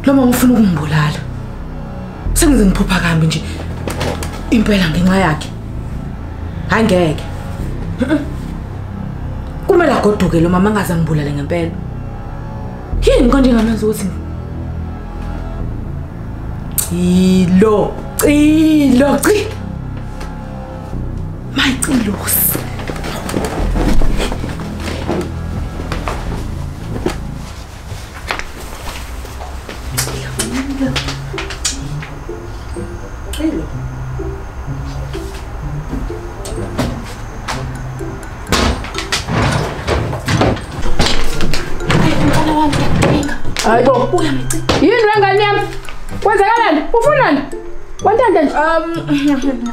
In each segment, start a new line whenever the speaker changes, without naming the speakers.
Lo mama ufuna ukungibulala. Sengize ngiphupha kambi nje. Impela ngenxa yakhe. Hayi ngeke. Kumele agoduke lo mama angaze angibulale ngempela. Yini konje ngamazi ukuthi Cilo, cilo, cilo. Mayicelosi.
Hayi bo. Yini wengane yami? Kwenzakalani? Ufunani? Wantanda nje. Um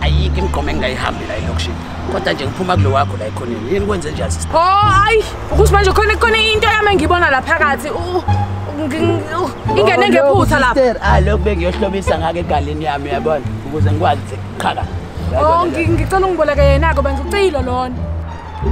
ayikho imigqomo engingayihambi la elokishini kodwa nje ngiphuma kulo wakho la ekhoneni yini kwenze njani sisi o oh, ayi ukuthi
manje khona khona into yami engiyibona la phakathi ingene ngephutha lapha ah, lokhu bengiyohlobisa
ngake egalini yami yabona ukuze ngikwazi qhaka o oh, ngicela
ungiboleke yena-ko bengizucilo lona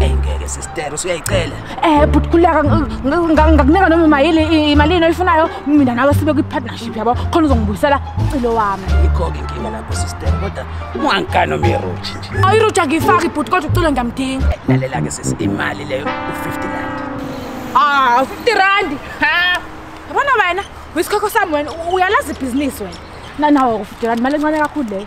eyi ngeke
sistero suyayicela um bhuti khuleka
ngakunika noma imayili imalini oyifunayo mina nawe sibe kwi-partnership yabo khona uzongibuyisela ucilo wami ikho-ke inkinga lapho
sistero kodwa ungangikano miruji nje awu iruji angiyifaki bhuti
kodwa ucilo ngiyamdinga lalela-ke sisi
imali leyo u-fifty rand ah u-fifty rand ha
yabona wena uyisikhokhosami wena uyalazi ibhizinisi wena nanawo u-fifty rand imali encane kakhulu leyo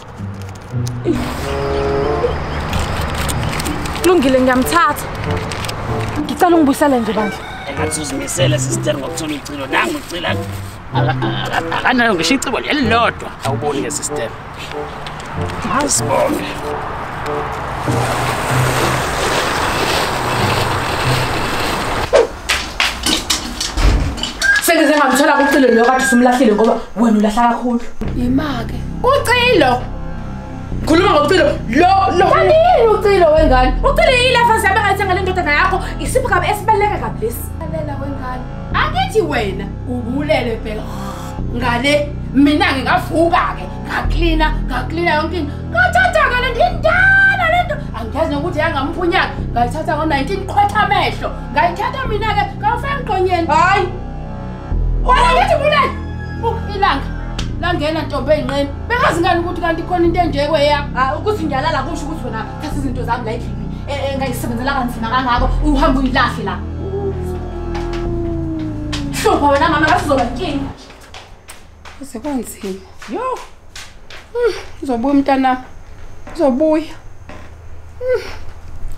kulungile ngiyamthatha ngicela ungibuyisele nje bandla engathi uzimisele
sister ngokuthola ucilo nangu ucila akanayo ngisho icebo elilodwa awuboni ngesister asibonge
Sengize ngamthola kucilo lo kade simlahlile ngoba wena ulahla kakhulu. Yimake.
Ucilo.
Khuluma ngokucilo. Lo lo. Kanti yini ucilo
wengane? Ucilo yini lafa siyabe
ngathi ngale ndodana yakho isipho kabe esibaleka kabi lesi. Lalela wengane.
Angithi wena ubulele phela. Ngale mina ngingavuka ke ngaklina ngaklina yonke into. Ngathatha ngale ndindala lento. Angiyazi nokuthi yangamphunyaka. Ngayithatha ngo-19 qhwetha amehlo. ngayithatha mina ke kawufaka mqonyeni hayi wena ngithi bulele ilanga langena ntombi eyinqeni bengazi ngani ukuthi kanti khona into enjeko eya ah, ukuthi ngiyalala
kusho ukuthi wena thatha izinto zami la endlini eh, eh, engayisebenzela kanzima kangako uhambe uyilahle la hlupha wena mama ngasizoba nkinga kuze kwanzima
yo hmm, uzobuya umntanami uzobuya hmm.